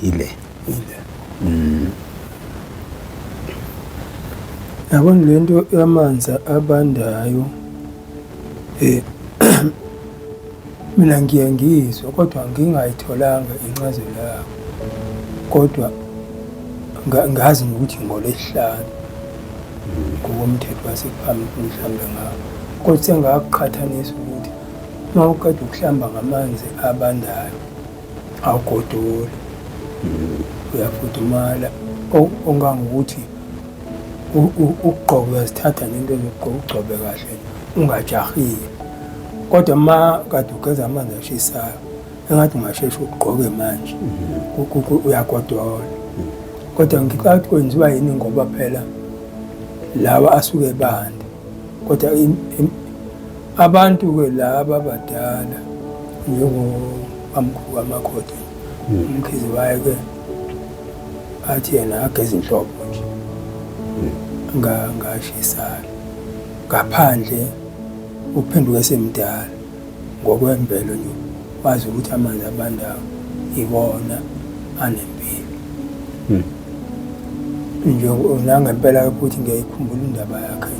ile ile mm. yabona le nto yamanzi abandayo um mina ngiye ngizwe kodwa ngingayitholanga incazelo yabo kodwa ngazi nokuthi ngolesihlanu ngokomthetho wasephambili mhlawumbe ngawo kodwa sengakuqhathanisa ukuthi uma uqeda ukuhlamba ngamanzi abandayo awugodoli uyafudumala ongangokuthi ukugqoka uyazithatha nento zokugqoka ugcobe kahle ungajahile kodwa ma kade ugeza amanzi ashisayo engathi ungasheshe ugqoke manje uyagodola kodwa ngicabanga ukuthi kwenziwa yini ngoba phela lawa asuke ebanda kodwa Abantu-ke laba abadala njengobamkhulu kamakoti hmm. umkhize waye-ke athi yena ageza inhlobo nje hmm. ngashisana ngaphandle uphenduke semdala ngokwemvelo nje wazi ukuthi amanzi abandayo iwona anempilo hmm. nje nangempela ukuthi ngiyayikhumbula indaba yakhe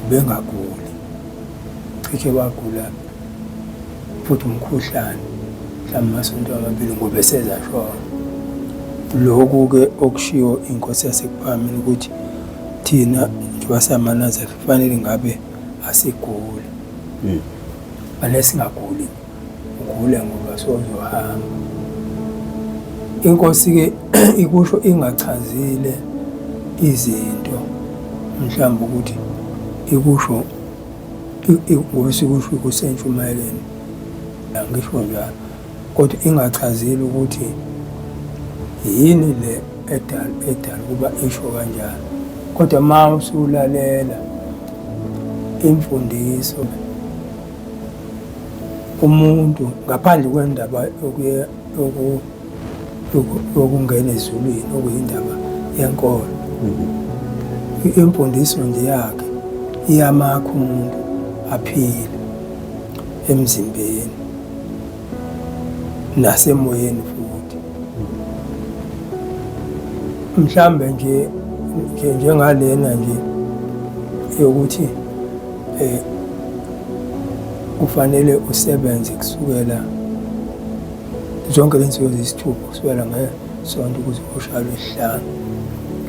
ubengaguli cishe wagula futhi umkhuhlane mhlawumbe amasonto amabili ngoba esezashona lokhu-ke okushiwo inkosi yasekuphamini ukuthi thina njengoba samanazela kufanele ngabe asiguli hmm. fanele singaguli Ugule ngoba sozohamba. Inkosi-ke ikusho ingachazile izinto mhlawumbe ukuthi ikusho ngokusikusho kusentshumayeleni angisho njalo kodwa ingachazile ukuthi yini le edala edala ukuba isho kanjalo kodwa uma usulalela imfundiso umuntu ngaphandle kwendaba yokungena ezulwini okuyindaba yenkolo mm-hmm. imfundiso nje yakhe iyamakha umuntu aphile emzimbeni nasemoyeni futhi mhlambe nje njengalena nje yokuthi Eh, ufanele usebenze kusukela zonke lensuku eziyisithupha kusukela ngesonto ukuze ushaya lwesihlanu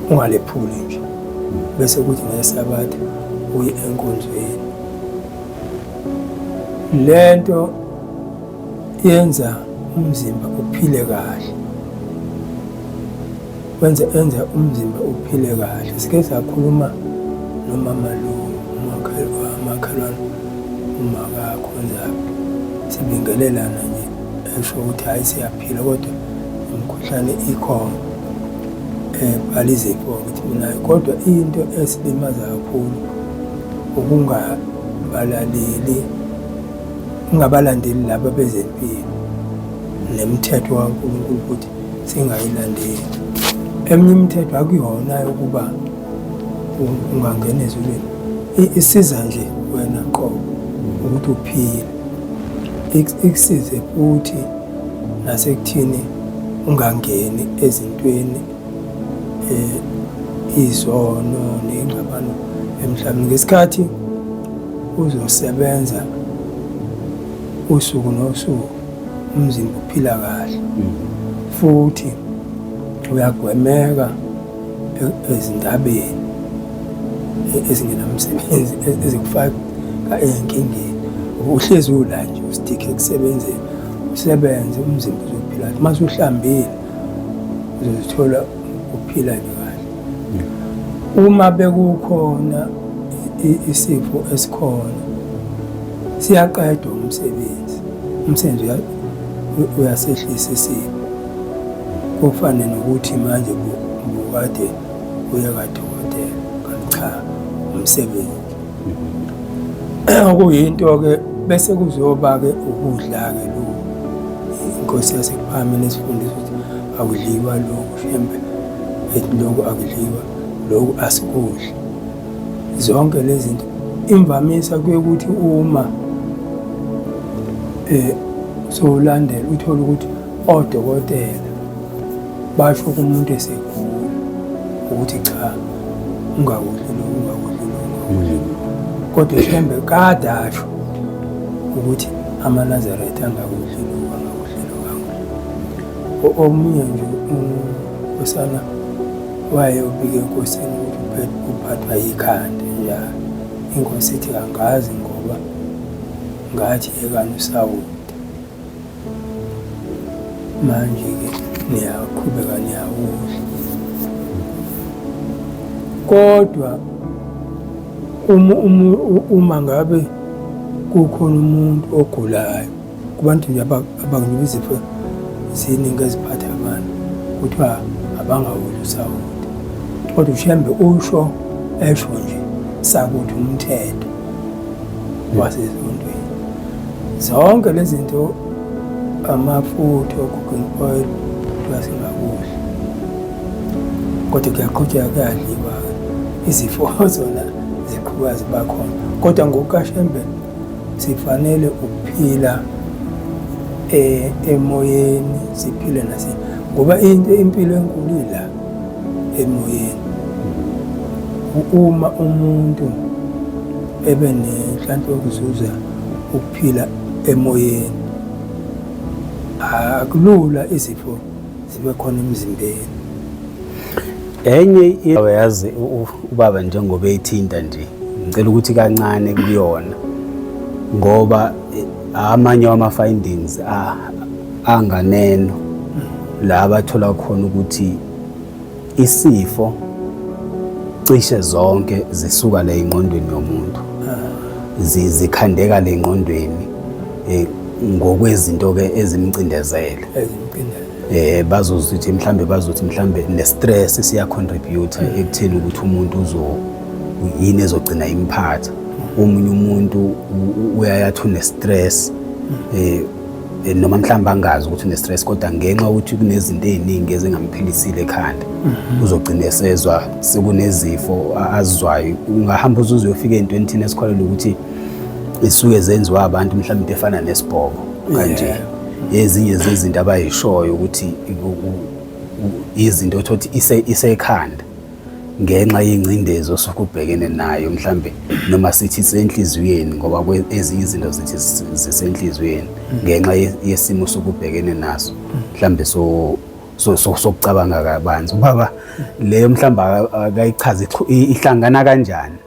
ungalephuli nje bese kuthi ngesabatha uye enkonzweni le nto yenza umzimba uphile kahle kwenze enza umzimba uphile kahle. Sike sakhuluma nomama lo umakhelwane umakakho njalo sibingelelana nje esho ukuthi hhayi siyaphila kodwa umkhuhlane ikhona ebhala izifo ukuthi minayo kodwa into esilimaza kakhulu ukungabalaleli ungabalandeli laba bezempilo nemithetho kaNkulunkulu ukuthi singayilandeli eminye imithetho akuyona yokuba ungangena ezulwini isiza nje wena qobo ukuthi uphile ikusize futhi nasekuthini ungangeni ezintweni eh izono nengxabano emhlabeni ngesikhathi uzosebenza usuku nosuku umzimba uphila kahle mm. futhi uyagwemeka e-, ezindabeni e-, ezingenamsebenzi e-, ezikufaka enkingeni uhlezi ula nje ustikhe ekusebenzeni usebenze umzimba uzophila kahle uma usuhlambile uzozithola uphila nje uma bekukhona isifo esikhona siyaqedwa umsebenzi umsebenzi uyasehlisa isifo kufane nokuthi manje bukade uye kadokotela kanti cha umsebenzi mhm. okuyinto-ke bese kuzoba-ke ukudla-ke lokhu inkosi yasekuphamela esifundisa ukuthi Akudliwa lokhu shembe ethi lokhu akudliwa lokhu asikudli zonke lezi zinto imvamisa kuye ukuthi uma eh sowulandela uthole ukuthi odokotela basho kumuntu esegula ukuthi cha ungakudli lo ungakudli lo ungakudli hmm. kodwa shembe kade asho ukuthi amanazaretha angakudli Omunye nje unkosana waye ubike enkosini uphathwa yikhanda njalo. Inkosi ithi angazi ngoba ngathi yekani usawoti. Manje-ke niyaqhubeka niyawudla. Kodwa uma ngabe kukhona umuntu ogulayo. kubantu nje abanginika izipho ziningi eziphatha abantu kuthiwa abangawuli usawoti kodwa ushembe usho esho nje sakuthi umthetho wasesontweni zonke lezi zinto amafutha o-cooking oil kuthiwa singakudla kodwa kuyaqhutsheka kuyadliwa izifo zona ziqhuba zibakhona kodwa ngokukashembe Sifanele ukuphila eh, emoyeni siphile nase ngoba into impilo enkulu ila emoyeni. Uma umuntu ebe nenhlanhla yokuzuza ukuphila emoyeni akulula izifo zibe khona emzimbeni enye yazi ubaba njengoba ethinta nje ngicela ukuthi kancane kuyona ngoba eh, amanye wama findings anganeno la bathola khona ukuthi isifo cishe zonke zisuka le ingqondweni yomuntu zikhandeka le ingqondweni eh, ngokwezinto ke ezimcindezele eh bazothi ukuthi mhlambe bazothi mhlambe ne stress siya contribute ekutheni ukuthi umuntu uzo yini ezogcina imphatha omunye umuntu uyayathi une stress eh eh, noma mhlawumbe angazi ukuthi une-stress kodwa ngenxa yokuthi kunezinto ey'ningi ezingamphilisile ekhanda mhm. uzogcina esezwa sekunezifo azizwayo ungahamba uze uzuyofika ey'ntweni thina esikholelwa ukuthi isuke zenziwa abantu mhlawumbe into efana nesibhobo kanje ezinye zezinto abayishoyo ukuthi izinto othothi isekhanda ngenxa yengcindezi osuke ubhekene nayo mhlambe noma sithi senhliziyweni ngoba ezinye izinto zithi zisenhliziyweni ngenxa yesimo sokubhekene naso mhlambe so sokucabanga kabanzi ubaba leyo mhlawumbe akayichazi ihlangana kanjani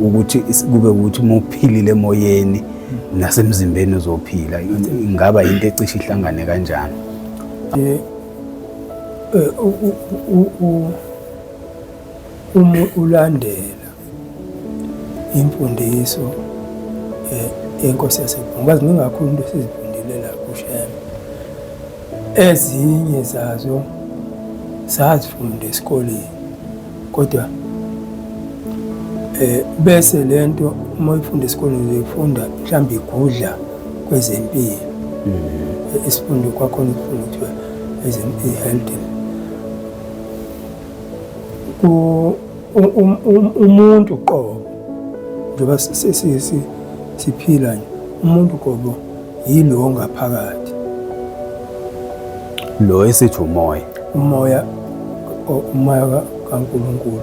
ukuthi kube ukuthi uma uphilile emoyeni nasemzimbeni uzophila ingaba yinto ecishe ihlangane kanjani eh, eh, uma ulandela imfundiso eh, yenkosi yasebhungu baziningi kakhulu into esizibhungile la kushema Ezinye zazo sazifunda esikoleni kodwa eh bese lento uma uyifunda esikoleni uyifunda mhlawumbe igudla kwezempilo mm-hmm. isifundo kwakhona ukufunda kuthiwa ezempilo health ku um, um, umuntu qobo njengoba siphila nje umuntu qobo Yilo ongaphakathi. Lo esithi umoya. Umoya umoya kaNkulunkulu.